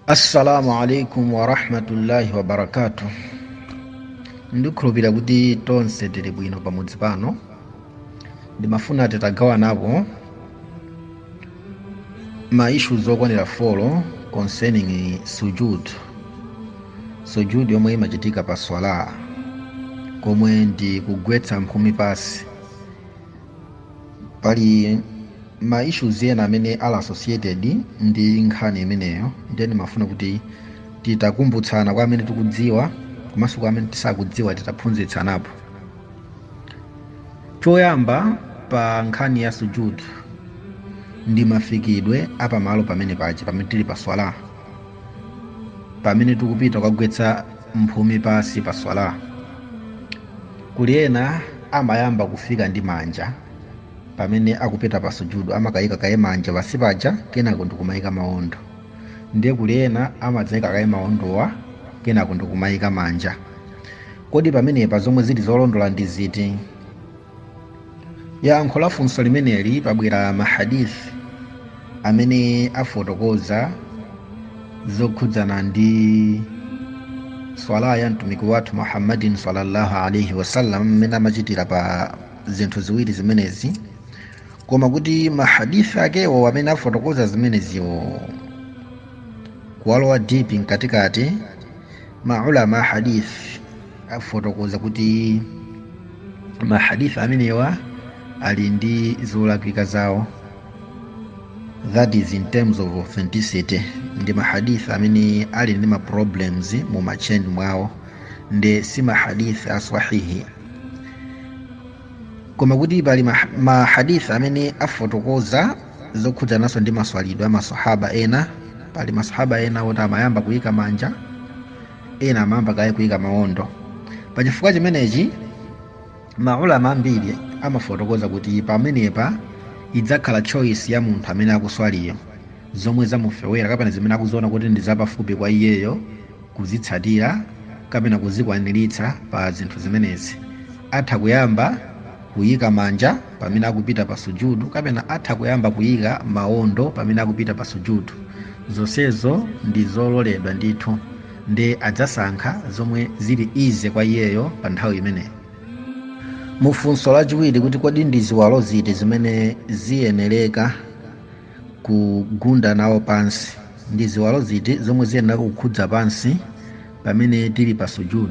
assalamu alaikum warahmatullahi wabarakatu ndikhulupira kuti tonse tili bwino pamodzi pano ndimafuna titagawanako ma issues okwanira 4 concerning sujud sujud yomwe imachitika pa swala komwe ndi kugwetsa mphumi pansi pali ma issues ena amene ali associated ndi nkhani imeneyo ndiye ndimafuna kuti titakumbutsana kwa amene tikudziwa komanso kwa amene tisakudziwa titaphunzitsanapo choyamba pa nkhani ya sujud ndi mafikidwe apamalo pamene paja pamene tili pa swala pamene tikupita kukagwetsa mphumi pansi pa swala Kuli ena amayamba kufika ndi manja pamene akupita pa sujudu, amakaika kaye manja pansi paja kenako ndikumaika maondo. Ndiye kuli ena amadzaika kaye maondowa kenako ndikumaika manja. Kodi pamenepa zomwe zili zolondola ndi ziti? Yankho la funso limeneli pabwera ma hadith amene afotokoza zokhudzana ndi swala ya mtumiki wathu Muhammadin sallallahu alaihi wasallam mmene amachitira pa zinthu ziwiri zimenezi koma kuti mahadith akewo amene afotokoza zimeneziwo kuwalowa deep mkatikati maulama a hadith afotokoza kuti mahadith amenewa ali ndi zolakwika zawo that is in terms of authenticity ndi mahadith amene ali ndi maproblems mu machain mwawo nde si mahadith aswahihi koma kuti pali mahadith amene afotokoza zokhudzananso ndi maswalidwe a masahaba ena pali masahaba ena oti amayamba kuyika manja ena amayamba kaye kuyika mawondo pa chifukwa chimenechi maulama ambiri amafotokoza kuti pamenepa idzakhala choice ya munthu amene akuswaliyo zomwe zamufewera kapena zimene akuziona kuti ndi zapafupi kwa iyeyo kuzitsatira kapena kuzikwaniritsa pa zinthu zimenezi atha kuyamba kuyika manja pamene akupita pa Sujood kapena atha kuyamba kuyika mawondo pamene akupita pa Sujood zonsezo ndi zololedwa ndithu nde adzasankha zomwe zili easy kwa iyeyo pa nthawi imeneyo. Mu funso lachiwiri kuti kodi ndi ziwalo ziti zimene ziyenereka kugunda nawo pansi, ndi ziwalo ziti zomwe ziyenereka kukhudza pansi pamene tili pa Sujood?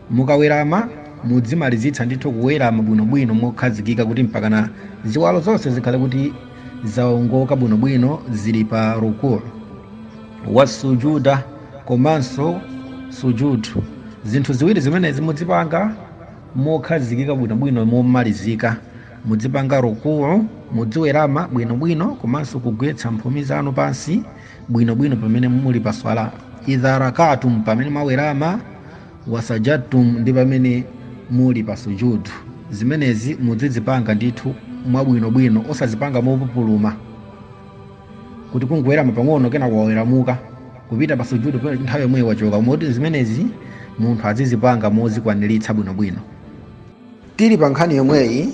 Mukawerama, mudzimalizitsa ndithu kuwerama bwinobwino mokhazikika kuti mpakana ziwalo zonse zikhale kuti zaongoka bwinobwino zili pa ruku. Wassujuda komanso sujud. Zinthu ziwiri zimenezi mudzipanga mokhazikika bwinobwino momalizika. Mudzipanga ruku, mudziwerama bwinobwino komanso kugwetsa mphumi zanu pansi bwinobwino pamene muli pa Swalah. Idha rakaatum, pamene mwawerama. wa sajadtum ndi pamene muli pa sujud. Zimenezi mudzizipanga ndithu mwabwinobwino osazipanga mopupuluma kuti kungowerama pang'ono kenako waweramuka kupita pa sujud nthawi yomweyo wachoka koma kuti zimenezi munthu azizipanga mozikwaniritsa bwinobwino. Tili pa nkhani yomweyi,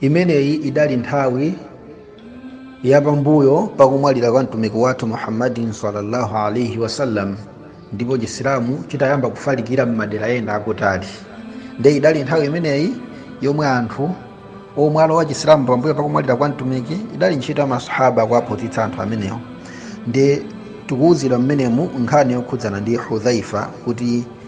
imeneyi idali nthawi yapambuyo pakumwalira kwa mtumiki wathu muhammadin sallallahu alaihi wasallam ndipo chisilamu chitayamba kufalikira m'madera ena akutali nde idali nthawi imeneyi yomwe anthu omwe alowa chisilamu pambuyo pakumwalira kwa mtumiki idali ntchito ya masahaba kuwaphunzitsa anthu amenewo nde tikuwuzidwa mmenemu nkhani yokhudzana ndi hudhaifa kuti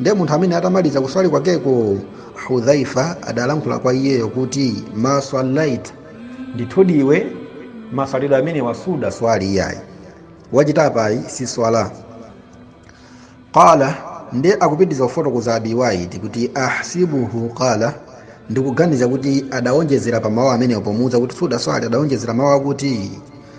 nde munthu amene atamaliza kuswali kwakeko hudhaifa adalankhula kwa iyeyo kuti ma swalaita ndithudi iwe maswalidwe amenewa sudaswali iyayi wachita apayi si swala qala nde akupitiriza kufotokoza abi waili kuti ahsibuhu qala ndikuganiza kuti adawonjezera pa mawu amenewo pomuwuza kuti sudaswali adawonjezera mawu akuti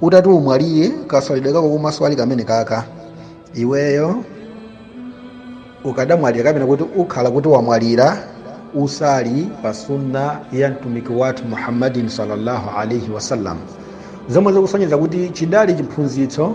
utati umwalire kaswalidwe kako komaswali kamene kaka iweyo ukadamwalira kapena kuti ukhala kuti wamwalira usali pa sunna ya mtumiki wathu muhammadin sallallahu alaihi wasallam zomwe zikusonyeza kuti chidali chiphunzitso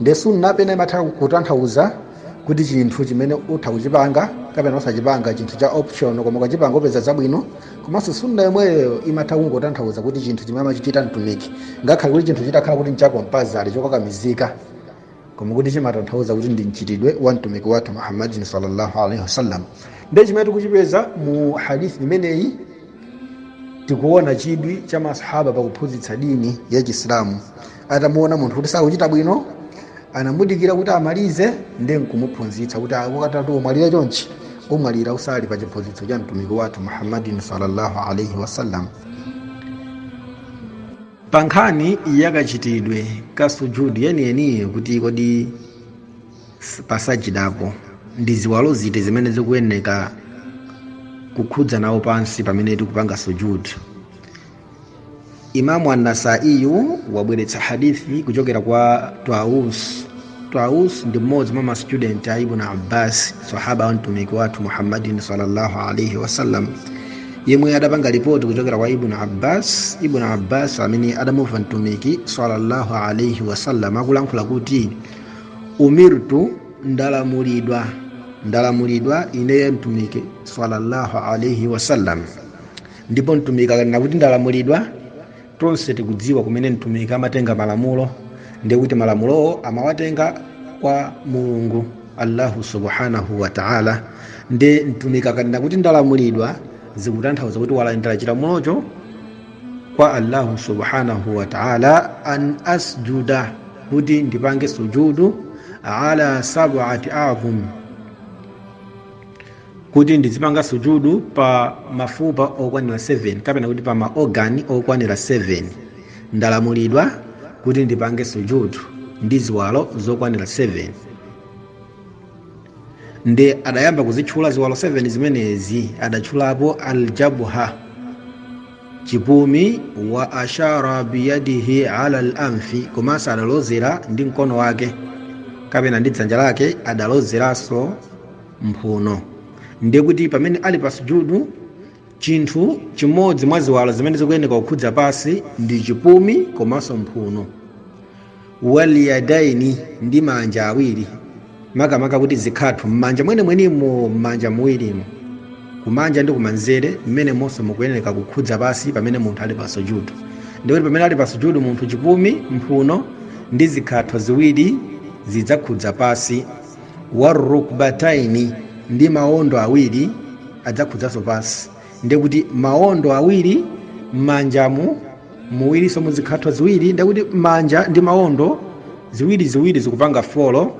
ndi sunna pena imatha kutanthauza kuti chinthu chimene utha kuchipanga kapena osachipanga chinthu cha option koma ukachipanga upeza zabwino komanso sunna yomweyo imatha kungotanthauza kuti chinthu chimene amachichita mtumiki ngakhale kuti chinthu chitakhala kuti nchakompasali chokakamizika koma kuti chimatanthauza kuti ndi mchitidwe wa mtumiki wathu muhammadin sallallahu alaihi wasallam ndiye chimene tikuchipeza mu hadithi imeneyi tikuona chidwi cha masahaba pakuphunzitsa dini ya chisilamu atamuona munthu kuti sakuchita bwino anamudikira kuti amalize ndi nkumuphunzitsa kuti ukati umwalire chonchi umwalira usali pa chiphunzitso cha mtumiki wathu muhammadin sallallahu alaihi wasallam pa nkhani yakachitidwe ka sujudi yeniyeniyo kuti kodi s- pasajidapo ndi ziwalo ziti zimene zikuyeneka kukhudza nawo pansi pamene tikupanga sujudi imamu annasaiyu wabweretsa hadithi kuchokera kwa taus taus ndi mmodzi mwa mastudent a ibn abbas sahaba wa mtumiki wathu muhammadin salllahu alaihi wasallam yemwe adapanga ripoti kuchokera kwa ibn abbas ibn abbas amene adamumva mtumiki salllahu alaihi wasallam akulankhula kuti umirtu ndalamulidwa ndalamulidwa ineyo mtumiki salllahu alaihi wasallam ndipo mtumiki akanena kuti ndalamulidwa tonse tikudziwa kumene mtumiki amatenga malamulo ndiye kuti malamulowo amawatenga kwa mulungu allahu subhanahu wataala ndi mtumiki akanena kuti ndalamulidwa zikutanthauza kuti walandira chilamulocho kwa allahu subhanahu wataala an asjuda kuti ndipange sujudu ala sabaati adhum kuti ndizipanga sujudu pa mafupa okwanira 7 kapena kuti pa ma organ okwanira 7 ndalamulidwa kuti ndipange sujudu ndi ziwalo zokwanira 7 ndi adayamba kuzitchula ziwalo 7 zimenezi adatchulapo aljabha chipumi wa ashara biyadihi alal anfi komanso adalozera ndi mkono wake kapena ndi dzanja lake adalozeranso mphuno ndiye kuti pamene ali pa sujudu chinthu chimodzi mwa ziwalo zimene zikuyeneka kukhudza pasi ndi chipumi komanso mphuno waliyadaini ndi manja awiri makamaka kuti zikhatho m'manja mwenemwenimo m'manja muwirimo kumanja ndi kumanzere mmene monse mukuyeneka kukhudza pasi pamene munthu ali pa sujudu ndikuti pamene ali pa sujudu munthu chipumi mphuno ndi zikhatho ziwiri zidzakhudza pasi warrukbataini ndi maondo awiri adzakhudzanso pansi ndekuti maondo awiri m'manjamu muwirinso muzikhatho ziwiri ndekuti manja ndi maondo ziwiri ziwiri zikupanga folo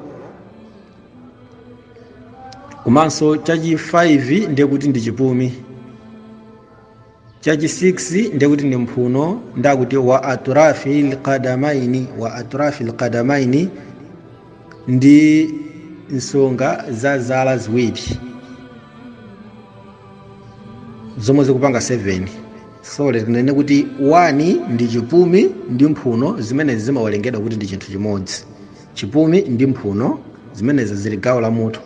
komanso chachi 5 ndekuti ndi chipumi chachi 6 ndekuti ndi mphuno ndekuti wa atrafi lqadamaini wa atrafi lqadamaini ndi nsonga za zala ziwiri zomwe zikupanga 7 sorry tinene kuti 1 ndi chipumi ndi mphuno zimenezi zimawerengedwa kuti ndi chinthu chimodzi chipumi ndi mphuno zimenezi zili gawo la mutu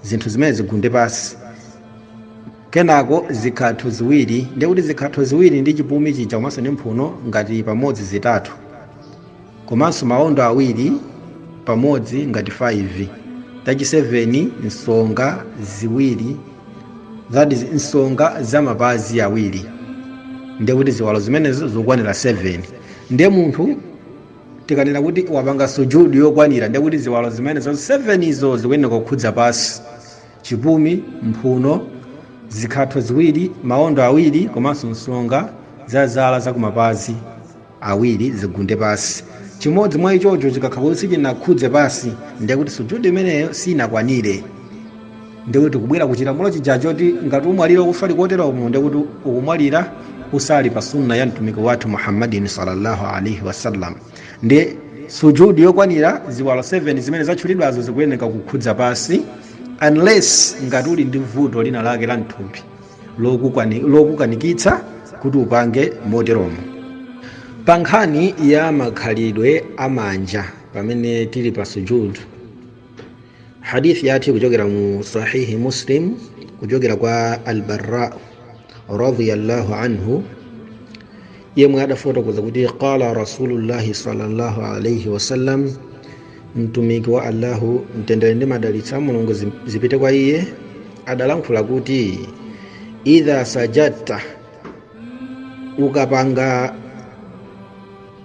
zinthu zimene zigunde pasi kenako zikhatho ziwiri ndiye kuti zikhatho ziwiri ndi chipumi chija komanso ndi mphuno ngati pamodzi zitatu komanso maondo awiri pamodzi ngati 5 that is 7 nsonga ziwiri that is nsonga za mapazi awiri ndiye kuti ziwalo zimenezo zokwanira 7 ndiye munthu tikanena kuti wapanga sujudu yokwanira ndiye kuti ziwalo zimenezo 7 izo zikuyeneka kukhudza pansi chipumi, mphuno, zikhatho ziwiri, maondo awiri komanso nsonga za zala za kumapazi awiri zigunde pansi. Chimodzi mwa ichocho chikakhala kuti sichinakhudze pansi, ndiye kuti sujud imeneyo siinakwanire. Ndiye kuti tikubwera ku chilamulo chija choti ngati umwalira ukuswali koteromo, ndiye kuti ukumwalira usali pa Sunnah ya Mtumiki wathu Muhammadin salla Allah alaih wasallam. ndiye sujudu yokwanira ziwalo 7 zimene zatchulidwazo zikuyeneka kukhudza pansi unless ngati uli ndi vuto lina lake la mthupi lokukanikitsa kuti upange moteromo pa nkhani ya makhalidwe a manja pamene tili pa sujudu hadith yathu kuchokera mu sahihi muslim kuchokera kwa albarra radiyallahu anhu yemwe adafotokoza kuti qala rasulullahi sallallahu alaihi wasallam mtumiki wa allahu mtendere ndi madalitso a mulungu zipite kwa iye adalankhula kuti idha sajadta ukapanga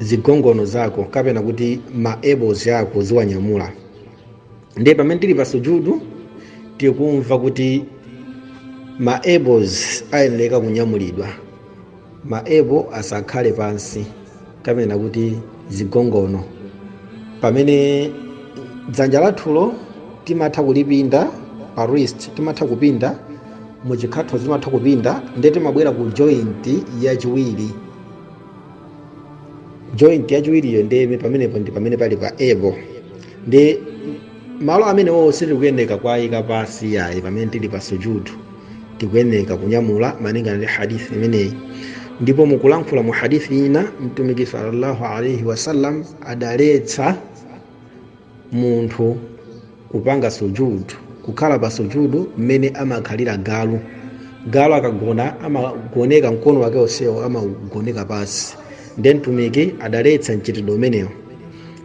zigongono zako kapena kuti ma elbows ako uziwanyamula ndiye pamene tili pa sujudu tikumva kuti ma elbows ayeneleka kunyamulidwa ma elbow asakhale pansi kapena kuti zigongono pamene dzanja lathulo timatha kulipinda pa wrist timatha kupinda mu chikhathomo timatha kupinda ndiye timabwera ku joint yachiwiri joint yachiwiriyo ndi pamenepo ndi pamene pali pa elbow ndi malo amenewowo sitikuyeneka kuwayika pansi yayi pamene tili pa sujudu tikuyeneka kunyamula malingana ndi hadithi imeneyi ndipo mukulankhula mu hadithi ina mtumiki sallallahu alaihi wasallam adaletsa munthu kupanga sujud kukhala pa sujud mmene amakhalira galu galu akagona amagoneka mkono wake onsewo amaugoneka pansi nde mtumiki adaletsa mchitidwe umenewo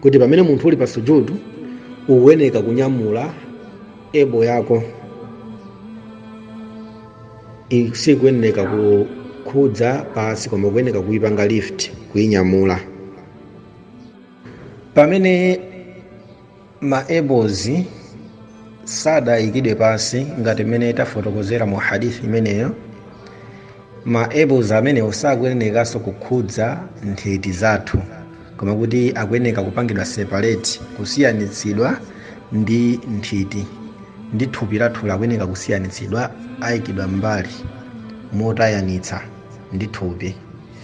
kuti pamene munthu uli pa sujud ukuyeneka kunyamula elbow yako sikuyeneka kukhudza pansi koma ukuyeneka kuipanga lift kuinyamula pamene ma elbows sadayikidwe pansi ngati mmene tafotokozera mu hadith imeneyo ma elbows amenewo sakuyenekanso kukhudza nthiti zathu koma kuti akuyeneka kupangidwa separate kusiyanitsidwa ndi nthiti ndi thupi lathu akuyeneka kusiyanitsidwa ayikidwa mbali motayanitsa ndi thupi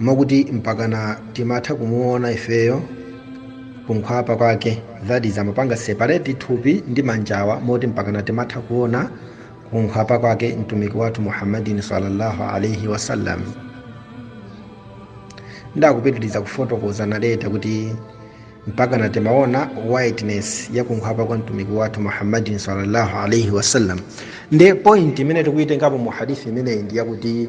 mwakuti mpakana timatha kumuona ifeyo kunkhwapa kwake that is amapanga separate thupi ndi manjawa moti mpakana timatha kuona kunkhwapa kwake mtumiki wathu muhammadin sallallahu alaihi wasallam nde akupitiriza kufotokoza narrator kuti mpakana timaona whiteness ya kunkhwapa kwa mtumiki wathu muhammadin sallallahu alaihi wasallam nde point imene tikuyitengapo mu hadithi imeneyi ndi yakuti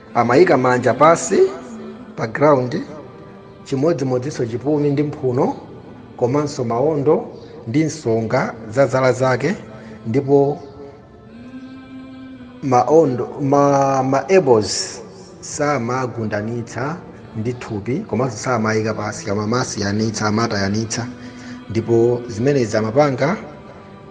Amaika manja pansi pa ground chimodzimodzinso chipumi ndi mphuno komanso maondo ndi nsonga za zala zake ndipo maondo ma, ma elbows samagundanitsa ndi thupi komanso samaika pansi koma amasiyanitsa amatayanitsa ndipo zimenezi amapanga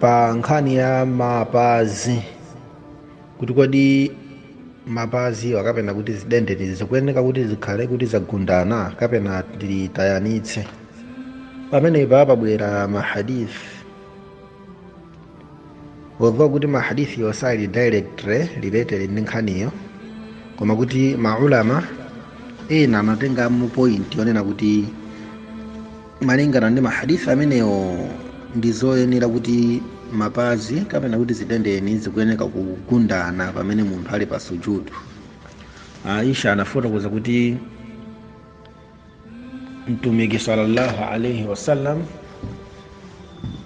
pa nkhani ya mapazi kuti kodi mapaziwa kapena kuti zidendeni zikuyeneka kuti zikhale kuti zagundana kapena titayanitse pamenepa pabwera mahadith although kuti mahadith yosali directly related ndi nkhaniyo koma kuti maulama ena anatengamo point yonena kuti malingana ndi mahadith amenewo ndi zoyenera kuti mapazi kapena kuti zidendeni zikuyeneka kugundana pamene munthu ali pa sujudu aisha anafotokoza kuti mtumiki sallallahu alaihi wasallam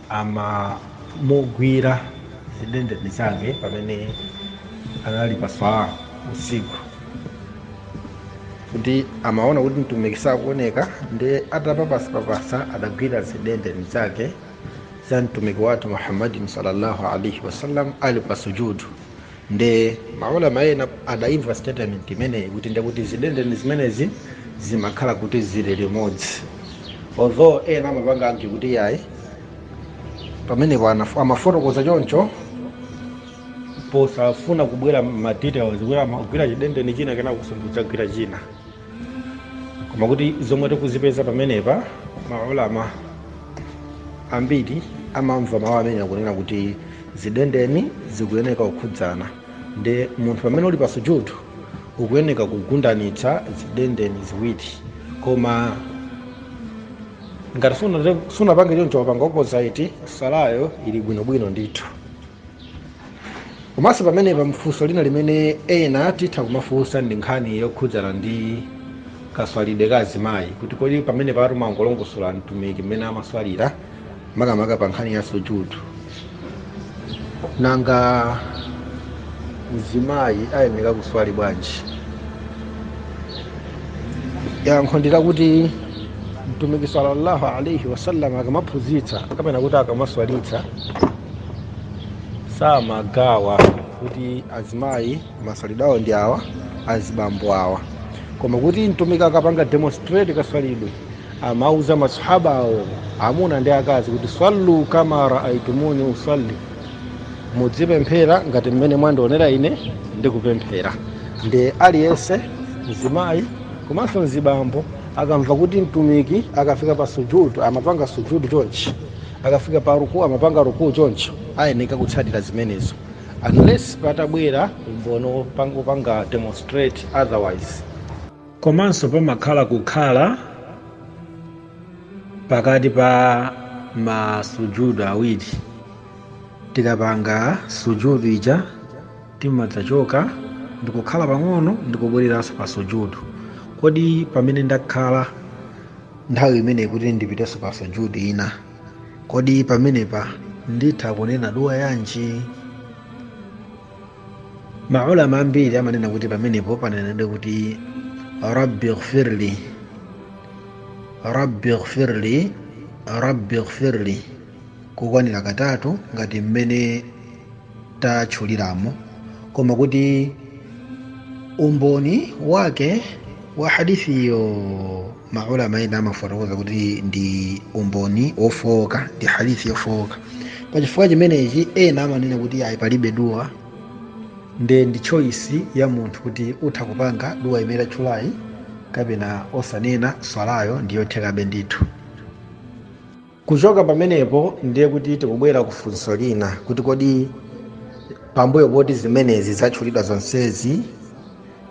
amamugwira zidendeni zake pamene anali pa swala usiku kuti amaona kuti mtumiki sakuoneka nde atapapasapapasa adagwira zidendeni zake za mtumiki wathu muhammadin sallallahu alaihi wasallam ali pa sujudu nde maulama ena adaimva statement imeneyi kuti ndekuti zidendeni zimenezi zimakhala kuti zili limodzi although ena amapanga argue kuti yayi pamenepo anaf- amafotokoza choncho posafuna kubweretsa ma details kuti amagwira chidendeni china kenako nkudzagwira china koma kuti zomwe tikuzipeza pamenepa maulama ambiri amamvu mawu amene akunena kuti zidendeni zikuyeneka kukhudzana ndi munthu pamene uli pa sujudu ukuyeneka kugundanitsa zidendeni ziwiri koma ngati suna- sunapange choncho wapanga opposite salayo ili bwinobwino ndithu komanso pamenepa mfunso lina limene ena titha kumafunsa ndi nkhani yokhudzana ndi kaswalidwe ka azimayi kuti kodi pamenepa tumangolongosola mtumiki mmene amaswalira makamaka pa nkhani ya sujudu nanga mzimayi ayeneka kuswali bwanji yankho ndi lakuti mtumiki sallallahu alaihi wasallam akamaphunzitsa kapena kuti akamaswalitsa samagawa kuti azimayi maswalidwe awo ndi awa azibambo awa koma kuti mtumiki akapanga demonstrate kaswalidwe amauza masahaba awo amuna ndi akazi kuti sallu kama raaitumuni usalli mudzipemphera ngati mmene mwandionera ine ndikupemphera ndi aliyense mzimayi komanso mzibambo akamva kuti mtumiki akafika pa sujudu amapanga sujudu chonchi akafika pa ruku amapanga ruku choncho ayeneka kutsatira zimenezo unless patabwera umboni wopang- wopanga demonstrate otherwise komanso pamakhala kukhala pakati pa masujudu awiri tikapanga sujudu ija Timadzachoka ndikukhala pang'ono ndikubwereranso pa sujud. Kodi pamene ndakhala nthawi imeneyi kuti ndipitenso pa sujud ina, kodi pamenepa nditha kunena dua yanji? Ma ulama ambiri amanena kuti pamenepo panenedwe kuti rabbi ghfirli rabbi ghfirli rabbi ghfirli kukwanira katatu ngati mmene tatchuliramo koma kuti umboni wake wa hadithiyo maulama ena amafotokoza kuti ndi umboni wofowoka ndi hadithi yofowoka pa chifukwa chimenechi ena amanena kuti ayi palibe duwa nde ndi choice ya munthu kuti utha kupanga duwa imene tatchulayi kapena osanena swalayo ndiyothekabe ndithu Kuchoka pamenepo ndiye kuti tikubwera ku funso lina kuti kodi pambuyo poti zimenezi zatchulidwa zonsezi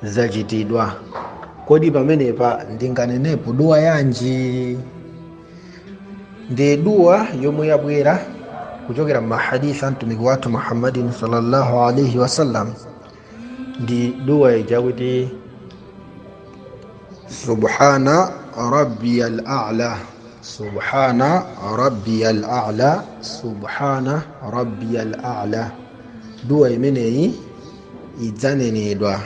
zachitidwa, kodi pamenepa ndinganenepo duwa yanji? Ndiye duwa yomwe yabwera kuchokera m'mahadisi a mtumiki wathu Muhammadin sallallahu alaihi wasallam ndi duwa ija kuti subhana rabbiya al-a'la subhana rabbiya al-a'la subhana rabbiya al-a'la duwa imeneyi idzanenedwa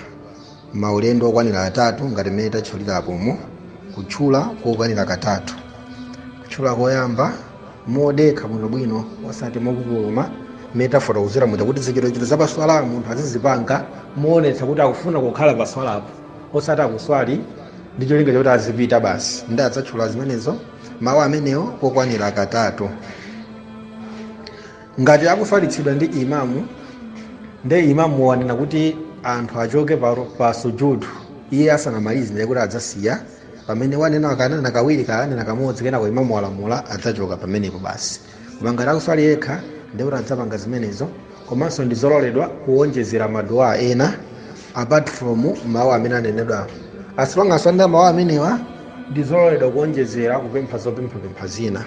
maulendo okwanira atatu ngati mmene tatchulirapomo kutchula kokwanira katatu kutchula koyamba modekha bwinobwino osati mopupuluma mmene tafotokozera muja kuti zichitochito za paswala munthu azizipanga moonetsa kuti akufuna kukhala paswalapo osati akuswali ndi cholinga choti azipita basi ndi adzatchula zimenezo mawu amenewo kokwanira katatu ngati akuswalitsidwa ndi imamu nde imamu wanena kuti anthu achoke pa, pa sujudu iye asanamalize ndiye kuti adzasiya pamene wanena akanena kawiri kanena kamodzi kenako imamu walamula adzachoka pamenepo basi koma ngati akuswali yekha ndiye kuti adzapanga zimenezo komanso ndi zololedwa kuwonjezera maduwa ena apart from mawu amene anenedwa as long as wanena mawu amenewa ndi zololedwa kuwonjezera kupempha zopemphapempha zina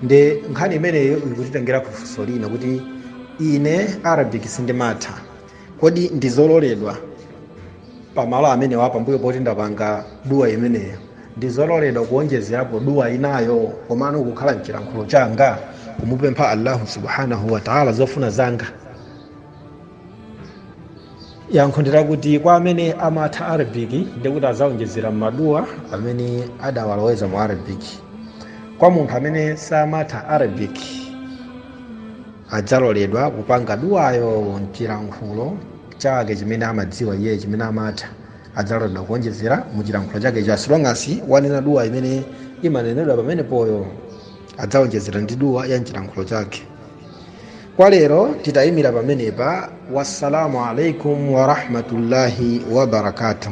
ndi nkhani imeneyo ikutitengera kufunso lina kuti ine arabic sindimatha kodi ndizololedwa pamalo amenewa pambuyo poti ndapanga duwa imeneyo ndizololedwa kuonjezerapo duwa inayo komano kukhala mchilankhulo changa kumupempha allahu subhanahu wataala zofuna zanga yankho ndirakuti kwa amene amatha arabiki ndikuti azaonjezera maduwa amene adawaloweza mu arabiki kwa munthu amene samatha arabiki adzaloledwa kupanga duwayo m'chilankhulo chake chimene amadziwa iyeyo chimene amatha adzaloledwa kuonjezera mu chilankhulo chakecho as long as wanena duwa imene imanenedwa pamenepoyo adzaonjezera ndi duwa ya mchilankhulo chake kwa lero titayimira pamenepa wassalamu alaikum warahmatullahi wabarakatuh